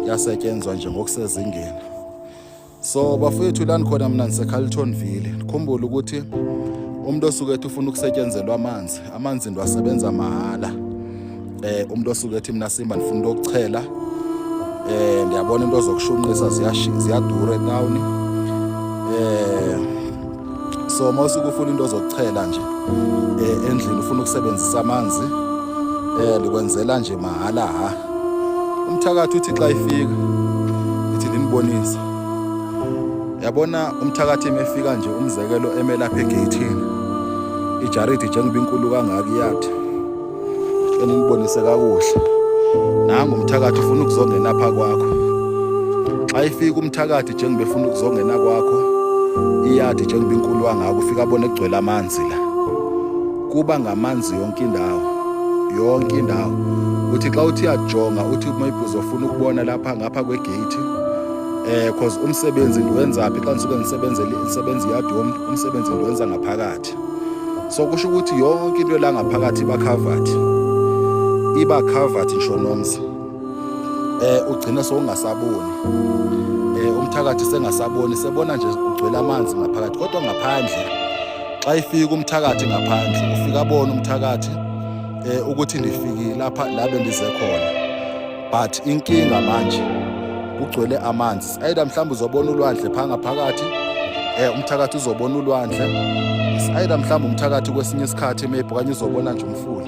yasetshenzwa nje ngokusezingeni so bafowethu lani khona mina ndisecarltonville ndikhumbule ukuthi umuntu osuke ethi ufuna ukusetshenzelwa amanzi amanzi into asebenza mahhala um eh, umuntu osuke ethi mina simba ndifuna into yokuchela um eh, ndiyabona into zokushunqisa ziyadura etawuni um eh, so uma usuke ufuna into zokuchela nje eh, endlini ufuna ukusebenzisa amanzi eh likwenzela nje mahala ha umthakathi uthi xa ifika ithi linibonise yabona umthakathi emefika nje umzekelo emelapha egeyithini ijaridi njengoba inkulu kangaka iyathi enibonise kakuhle nangu umthakathi ufuna ukuzongena apha kwakho xa ifika umthakathi njengoba efuna ukuzongena kwakho iyadi njengoba inkulu wangako ufika abone kugcwele amanzi la kuba ngamanzi yonke indawo yonke indawo uthi xa uthi yajonga uthi maybe uzofuna ukubona lapha ngapha kwegate eh cause umsebenzi ndiwenzaphi xa ndisuke ndisebenzele isebenzi yadi umsebenzi ndiwenza ngaphakathi covered so kusho ukuthi yonke into elangaphakathi iba covered iba covered ngisho nomzi eh ugcina sowungasaboni eh umthakathi sengasaboni sebona nje ugcwele amanzi ngaphakathi kodwa ngaphandle xa ifika umthakathi ngaphandle ufika bona umthakathi eh ukuthi ndifikile lapha la bendize khona but inkinga manje kugcwele amanzi either mhlawumbe uzobona ulwandle phanga phakathi eh umthakathi uzobona ulwandle either mhlawumbe umthakathi kwesinye isikhathi maybe okanye uzobona nje umfula